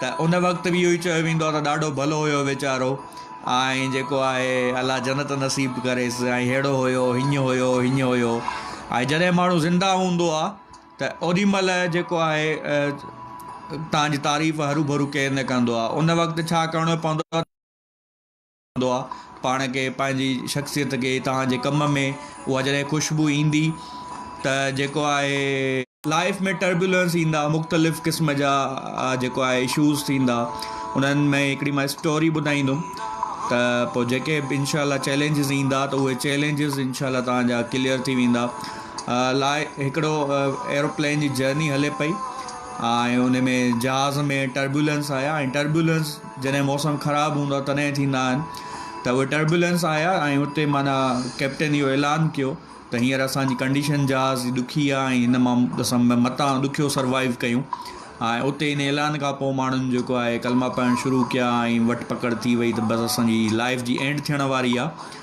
ته ان وقت به اهو ئي چيو ويندو آهي ته ڏاڍو ڀلو هيو ويچارو ۽ جيڪو آهي الله جنت نصيب ڪريس ۽ ههڙو هيو هينئن هيو هينئن هيو ۽ جڏهن ماڻهو زنده هوندو آهي ته اوڏي مهل جيڪو آهي تنهنجي تعريف هروڀرو ڪير نه ڪندو آهي ان وقت ڇا ڪرڻو پوندو آهي هوندو آهي پاڻ کي پنهنجي شخصيت کي توهان جي ڪم ۾ اها جڏهن خوشبو ايندي ته جيڪو آهي لائيف ۾ ٽربيولنس ايندا مختلف قسم جا جيڪو آهي اشوز ٿيندا انهن ۾ هڪڙي مان اسٽوري ٻڌائيندم ته پوء جيڪي به انشاء الله چيلنجز ايندا ته اهي چيلنجز انشاء الله توهان جا ڪليئر ٿي ويندا لا هڪڙو ايروپلين جي جرني هلي پئي ۽ ان ۾ جهاز ۾ ٽربيولنس آيا ۽ ٽربيولنس جڏهن موسم خراب هوندو آهي تڏهن ٿيندا آهن ته اهي ٽربولينس آيا ۽ اتي معنيٰ ڪئپٽن اهو اعلان ڪيو ته هينئر اسان جي ڪنڊيشن جهاز جي ڏکي آهي ۽ هن مان اسان متان ڏکيو سروائيو ڪيون ۽ اتي ان اعلان کان پوء ماڻهن جيڪو آهي ڪلما پڙهڻ شروع ڪيا ۽ وٺ پڪڙ ٿي وئي ته بس اسان جي لائيف جي اينڊ ٿيڻ واري آهي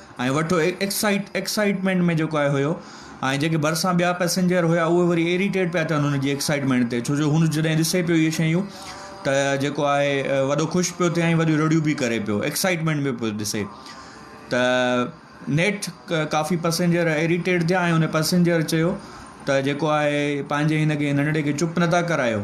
۽ وٺو ايڪسائيٽ ايڪسائيٽمينٽ ۾ جيڪو آهي هيو ۽ جيڪي ڀرسان ٻيا پئسينجر هيا اهي وري ايريٽيٽ پيا ٿين هن جي ايڪسائيٽمينٽ تي ڇو جو هن جڏهن ڏسي پيو اهي شيون ته جيڪو آهي وڏو خوش پيو ٿي ۽ وڏيون رڙيون به ڪري پيو ايڪسائيٽمينٽ ۾ پيو ڏسي ته نيٺ ڪافي پئسينجر ايريٽيٽ ٿيا ۽ هن پئسينجر چيو ته جيڪو آهي پنهنجي هن کي ننڍڙي کي چپ نٿا ڪرايو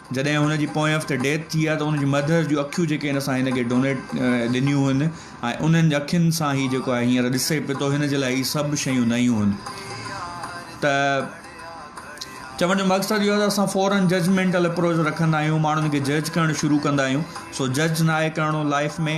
جڏهن هن جي پوئين هفتي ڊيٿ ٿي آهي ته ان جي مدر جون اکيون جيڪي هن سان هن کي ڊونيٽ ڏنيون هن ۽ انهن اکين سان هي جيڪو آهي هينئر ڏسي پئي ٿو هن جي لاء هي سڀ شيون نيون هن ته چوڻ جو مقصد اهو ته اسان فورن ججمنٽل اپروچ رکندا آهيون ماڻهن کي جج ڪرڻ شروع ڪندا آهيون سو جج ناهي ڪرڻو لائف ۾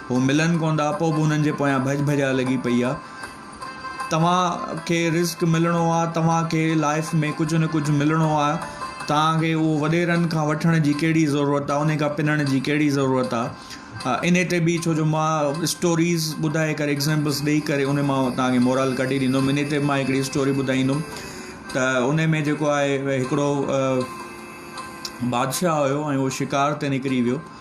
هو ملن ڪوندا پو به انهن جي پويان ڀڄ ڀڄاء لڳي پئي آ توهان کي رزق ملڻو آ توهان کي لائف ۾ ڪجهه نه ڪجهه ملڻو آ توهان کي اهو وڏيرن کان وٺڻ جي ڪهڙي ضرورت آ انهي کان پنڻ جي ڪهڙي ضرورت آ انهي تي به ڇو جو مان اسٽوريز ٻڌائي ڪري ايگزامپلس ڏئي ڪري انهي مان توهان کي مورال ڪڍي ڏيندم انهي تي مان هڪڙي اسٽوري ٻڌائيندم ته انهي ۾ جيڪو آهي هڪڙو بادشاهه هيو ۽ هو شڪار تي نڪري ويو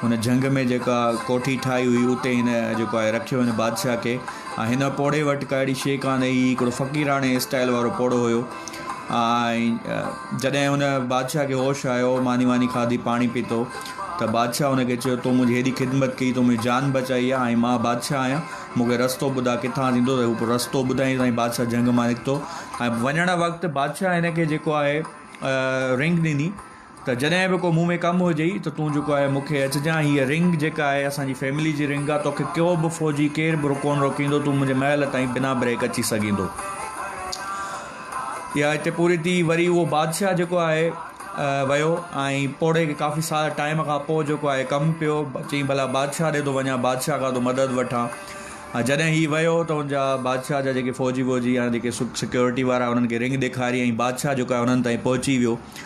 هن جهنگ ۾ جيڪا ڪوٺي ٺاهي هئي اتي هن جيڪو آهي رکيو هن بادشاهه کي ۽ هن پوڙهي وٽ ڪا اهڙي شيء ڪانه هئي هي هڪڙو فقيراڻي اسٽائيل وارو پوڙهو هيو ۽ جڏهن هن بادشاهه کي هوش آيو ماني واني کاڌي پاڻي پيتو ته بادشاهه هن کي چيو تو منهنجي هيڏي خدمت ڪئي تو منهنجي جان بچائي آهي ۽ مان بادشاهه آهيان مونکي رستو ٻڌاء ڪٿان ٿيندو ته هو رستو ٻڌائين سائين بادشاهه جهنگ مان نڪتو ۽ وڃڻ وقت بادشاهه هن کي جيڪو آهي رنگ ڏني ته جڏهن به ڪو مون ۾ ڪم هجئي ته تون جيڪو آهي مون کي اچجان هيء رنگ جيڪا آهي اسان جي فيملي جي رنگ آهي توکي ڪو به فوجي ڪير به ڪونه روڪيندو تون منهنجي محل تائين بنا بريڪ اچي سگهيندو اها هتي پوري ٿي وري اهو بادشاهه جيڪو آهي ويو ۽ پوڙهي کي ڪافي سارا ٽائيم کان پوء جيڪو آهي ڪم پيو چئي ڀلا بادشاهه ڏي ٿو وڃان بادشاهه کان ٿو مدد وٺان ۽ جڏهن هي ويو ته ان جا بادشاهه جا جيڪي فوجي ووجي يا جيڪي سڪيورٽي وارا انهن کي رنگ ڏيکاري ۽ بادشاهه جيڪو آهي انهن تائين پهچي ويو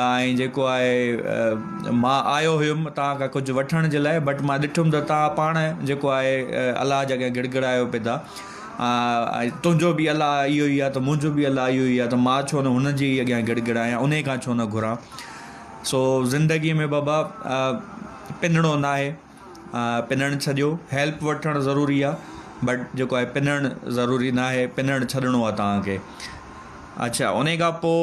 ۽ جيڪو آهي مان آيو هيم توهان کان ڪجهه وٺڻ جي لاء بٽ مان ڏٺم ته توهان پاڻ جيڪو آهي الله جي اڳيان گڙگڙايو پئي تا ۽ تنهنجو بي الله اهو ئي آهي ته منهنجو بي الله اهو ئي آهي ته مان ڇو نه هن جي ئي اڳيان گڙگڙايان انهي کان ڇو نه گهران سو زندگي ۾ بابا پنڻو ناهي پنڻ ڇڏيو هيلپ وٺڻ ضروري آهي بٽ جيڪو آهي پنڻ ضروري ناهي پنڻ ڇڏڻو آهي توهان کي اڇا انهي کان پوء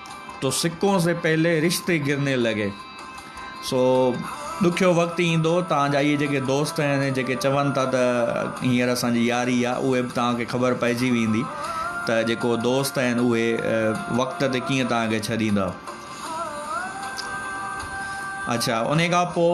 تو سڪون سي پهلي رشتي گرني لڳي سو ڏکيو وقت ايندو تان جا اهي جيڪي دوست آهن جيڪي چون ٿا ته هينئر اسان جي ياري آ اهي به تان کي خبر پئجي ويندي ته جيڪو دوست آهن اهي وقت تي ڪيئن تان کي ڇڏيندا اڇا انهي کان پوء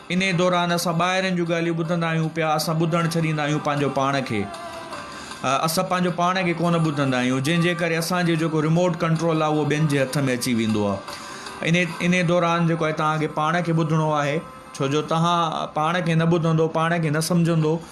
انهيء دوران اسان ٻاهرين جون ڳالهيون ٻڌندا آهيون پيا، اسان ٻڌڻ ڇڏيندا آهيون پنهنجو پاڻ کي. اسان پنهنجو پاڻ کي ڪونه ٻڌندا آهيون، جنهن جي ڪري اسان جو جيڪو ريموٽ ڪنٽرول آهي اهو ٻين جي هٿ ۾ اچي ويندو آهي. انهيء انهيء دوران جيڪو آهي توهان کي پاڻ کي ٻڌڻو آهي، ڇو جو توهان پاڻ کي نه ٻڌندو، پاڻ کي نه سمجهندو،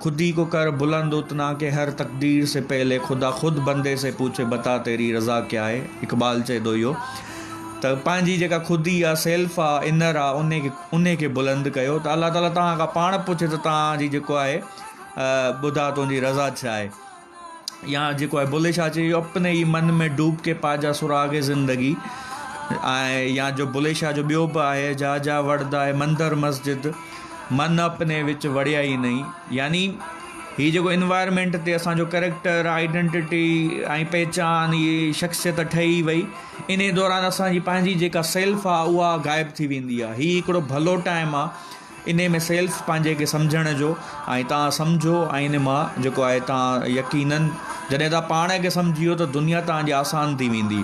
خودي ڪو ڪر بلند اتنا ڪي هر تقدير سي پهلي خدا خود بندي سي پوڇي بتا تيري رضا ڪيا هي اقبال چئي ٿو اهو ته پنهنجي جيڪا خودي آ سيلف آ انر آ ان کي ان کي بلند ڪيو ته الله تعالي توهان کان پاڻ پوڇي ته توهان جي جيڪو آهي ٻڌا تنهنجي رضا ڇا آهي يا جيڪو آهي بلي شاهه چيو اپني ئي من ۾ ڊوب ڪي پا جا سراغ زندگي ۽ يا جو بلي شاهه جو ٻيو به آهي جا جا وڙدا اي مندر مسجد من اپني وچ وڙيا ئي نئي يعني هي جيڪو انوائرمينٽ تي اسانجو ڪريڪٽر آئيڊنٽٽي ۽ پهچان هي شخصيت ٺهي وئي انهي دوران اسانجي پنهنجي جيڪا سيلف آهي اها غائب ٿي ويندي آهي هي هڪڙو ڀلو ٽائم آهي انهي ۾ سيلف پنهنجي کي سمجهڻ جو ۽ توهان سمجهو ۽ ان مان جيڪو آهي توهان يقينن جڏهن توهان پاڻ کي سمجهيو ته دنيا توهان جي آسان ٿي ويندي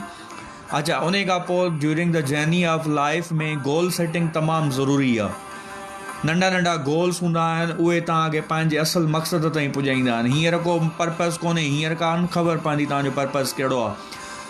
اچا انهي کان پوء during the journey of life ۾ goal setting تمام ضروري آهي ننڍا ننڍا گولس هوندا آهن اهي توهان کي پنهنجي اصل مقصد تائين پڄائيندا آهن هينئر ڪو پرپز ڪونهي هينئر ڪا نه خبر پوندي توهان جو پرپز ڪهڙو آهي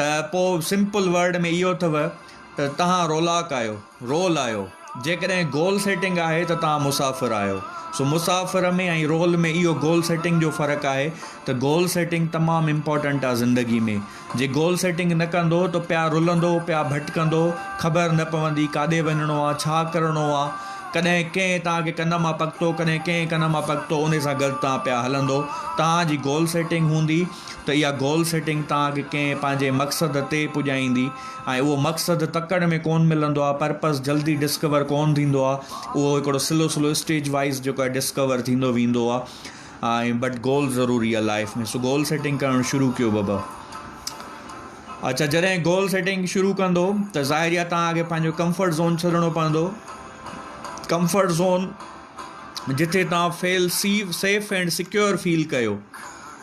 ته پوء سمپل ورڊ ۾ اهو اٿو ته توهان رولاڪ آهيو، Role، آهيو. جيڪڏهن گول سيٽنگ آهي ته توهان مسافر آهيو. سو مسافر ۾ ۽ رول ۾ اهو گول سيٽنگ جو فرق آهي ته گول سيٽنگ تمام امپارٽنٽ آهي زندگي ۾. جي گول سيٽنگ نه ڪندو ته پيا رلندو، پيا ڀٽڪندو، خبر نه پوندي ڪاڏي وڃڻو آهي، ڇا ڪرڻو آهي، ڪڏهن ڪنهن توهان کي ڪن مان پڪتو، ڪڏهن ڪنهن ڪن مان پڪتو، انهي سان گڏ توهان پيا هلندو. توهان جي گول سيٽنگ هوندي. ته اها گول سيٽنگ تانکي ڪنهن پنهنجي مقصد تي پڄائيندي ۽ اهو مقصد تڪڙ ۾ ڪونه ملندو آهي پرپس جلدي ڊسڪور ڪونه ٿيندو آهي اهو هڪڙو سلو سلو اسٽيج وائيز جيڪو آهي ڊسڪور ٿيندو ويندو آهي ۽ بٽ گول ضروري آهي لائف ۾ سو گول سيٽنگ ڪرڻ شروع ڪيو بابا اچھا جڏهن گول سيٽنگ شروع ڪندو ته ظاهر آهي تان اڳي پنهنجو ڪمفرٽ زون ڇڏڻو پوندو ڪمفرٽ زون جتي تان feel safe safe and secure feel ڪيو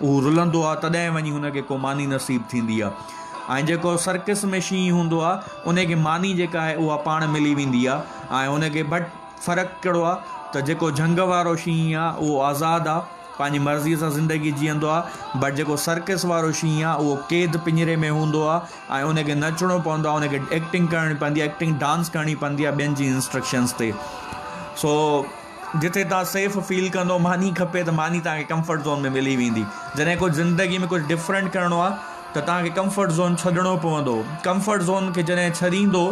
هو رلندو آ تڏهن وڃي هن کي ڪو ماني نصيب ٿيندي آ ۽ جيڪو سرڪس ۾ شينهن هوندو آ ان کي ماني جيڪا آهي اها پاڻ ملي ويندي آ ۽ ان کي بٽ فرق ڪهڙو آ ته جيڪو جهنگ وارو شينهن آ اهو آزاد آ پنهنجي مرضي سان زندگي جيئندو آ بٽ جيڪو سرڪس وارو شينهن آ اهو قيد پڃري ۾ هوندو آ ۽ ان کي نچڻو پوندو آ ان کي ايڪٽنگ ڪرڻي پوندي آ ايڪٽنگ ڊانس ڪرڻي پوندي آ ٻين جي انسٽرڪشنس تي سو جتي توهان سيف فيل ڪندو ماني کپي ته ماني توهان کي ڪمفرٽ زون ۾ ملي ويندي جڏهن ڪجهه زندگي ۾ ڪجهه ڊفرنٽ ڪرڻو آهي ته توهان کي ڪمفرٽ زون ڇڏڻو پوندو ڪمفرٽ زون کي جڏهن ڇڏيندو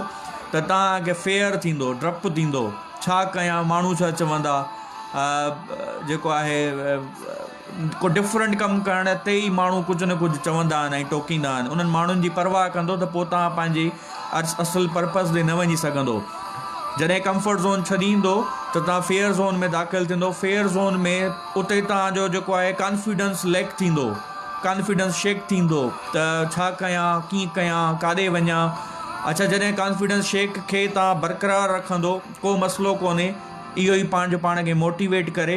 ته توهان کي فيئر ٿيندو ڊپ ٿيندو ڇا ڪيان ماڻهو ڇا چوندا جيڪو آهي ڪو ڊفرنٽ ڪم ڪرڻ تي ئي ماڻهو ڪجهه نه ڪجهه چوندا آهن ۽ ٽوڪيندا آهن انهن ماڻهن جي پرواهه ڪندو ته پوء تان پنهنجي اصل پرپز ڏي نه وڃي سگهندو جڏهن ڪمفرٽ زون ڇڏيندو ته تان فيئر زون ۾ داخل ٿيندو فيئر زون ۾ اتي تان جو جيڪو آهي ڪانفيڊنس ليڪ ٿيندو ڪانفيڊنس شيڪ ٿيندو ته ڇا ڪيان ڪيئن ڪيان ڪاڏي وڃان اڇا جڏهن ڪانفيڊنس شيڪ کي تان برقرار رکندو ڪو مسئلو ڪونهي اهو ئي پنهنجو پاڻ کي موٽيويٽ ڪري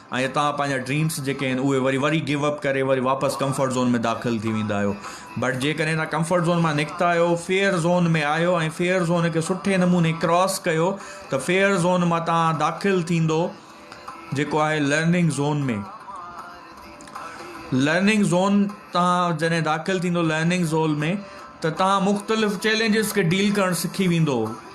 ۽ اتان پنهنجا ڊريمس جيڪي آهن اهي وري وري گيو اپ ڪري وري واپس ڪمفرٽ زون ۾ داخل ٿي ويندا آهيو بٽ جيڪڏهن تان ڪمفرٽ زون مان نڪتا آهيو فيئر زون ۾ آهيو ۽ فيئر زون کي سٺي نموني ڪراس ڪيو ته فيئر زون مان تان داخل ٿيندو جيڪو آهي لرننگ زون ۾ لرننگ زون تان جڏهن داخل ٿيندو لرننگ زون ۾ ته تان مختلف چيلنجز کي ڊيل ڪرڻ سکي ويندو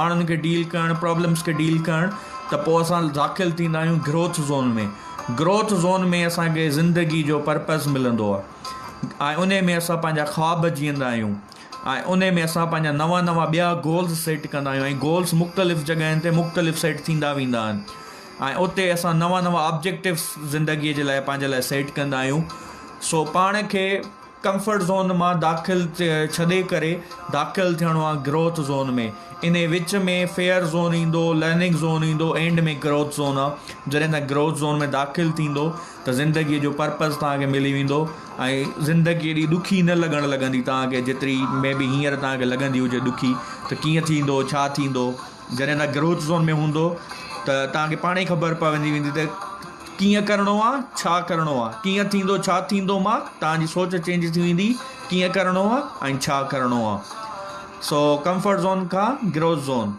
ماڻهن کي ڊيل ڪرڻ پرابلمس کي ڊيل ڪرڻ ته پوء اسان داخل ٿيندا آهيون گروٿ زون ۾ گروٿ زون ۾ اسان کي زندگي جو پرپز ملندو آهي ۽ ان ۾ اسان پنهنجا خواب جيئندا آهيون ۽ ان ۾ اسان پنهنجا نوا نوا ٻيا گولز سيٽ ڪندا آهيون ۽ گولز مختلف جڳهين تي مختلف سيٽ ٿيندا ويندا آهن ۽ اتي اسان نوا نوا آبجيڪٽوس زندگيء جي لاء پنهنجي لاء سيٽ ڪندا آهيون سو پاڻ کي ڪمفرٽ زون مان داخل ڇڏي ڪري داخل ٿيڻو آ گروٿ زون ۾ انهي وچ ۾ فيئر زون ايندو لرننگ زون ايندو اينڊ ۾ گروٿ زون آ جڏهن تان گروٿ زون ۾ داخل ٿيندو ته زندگي جو پرپز توهان کي ملي ويندو ۽ زندگي ايڏي ڏکي نه لڳڻ لڳندي توهان کي جيتري مي بي هينئر توهان کي لڳندي هجي ڏکي ته ڪيئن ٿيندو ڇا ٿيندو جڏهن تان گروٿ زون ۾ هوندو ته توهان کي پاڻ ئي خبر پوندي ويندي ته ڪيئن ڪرڻو آ ڇا ڪرڻو آ ڪيئن ٿيندو ڇا ٿيندو ماء توهان جي سوچ چينج ٿي ويندي ڪيئن ڪرڻو آ ۽ ڇا ڪرڻو آ سو ڪمفرٽ زون کان گروٿ زون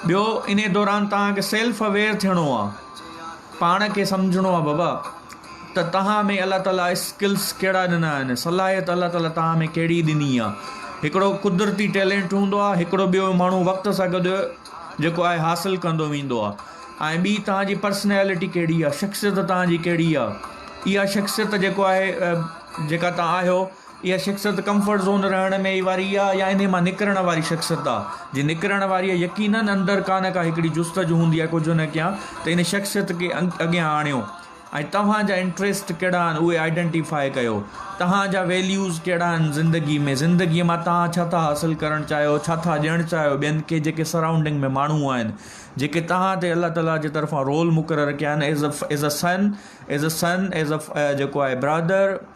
ٻيو انهي دوران توهان کي سيلف اويئر ٿيڻو آ پاڻ کي سمجهڻو آ بابا ته توهان ۾ الله تعالي اسڪلس ڪهڙا ڏنا آهن صلاحيت الله تعالي توهان ۾ ڪهڙي ڏني آ هڪڙو قدرتي ٽيلينٽ هوندو آ هڪڙو ٻيو ماڻهو وقت سان گڏ جيڪو آهي حاصل ڪندو ويندو آ ۽ ٻي توهان جي پرسنيلٽي ڪهڙي آ شخصيت توهان جي ڪهڙي آ اها شخصيت جيڪو آهي جيڪا توهان آهيو اها شخصيت ڪمفرٽ زون رهڻ ۾ ئي واري آ يا انهي مان نڪرڻ واري شخصيت آ؟ جي نڪرڻ واري آ يقينن اندر ڪا نه ڪا هڪڙي جستجو هوندي آ ڪجهه نه ڪيان ته ان شخصيت کي اڳيان آڻيو ۽ توهان جا انٽريسٽ ڪهڙا آهن اهي آئيڊنٽيفاء ڪيو توهان جا ويليوز ڪهڙا آهن زندگي ۾ زندگي مان توهان ڇا ٿا حاصل ڪرڻ چاهيو ڇا ٿا ڏيڻ چاهيو ٻين کي جيڪي سرائونڊنگ ۾ ماڻهو آهن جيڪي توهان تي الله تعالي جي طرفان رول مقرر ڪيا آهن as as a son as a son as a جيڪو آهي برادر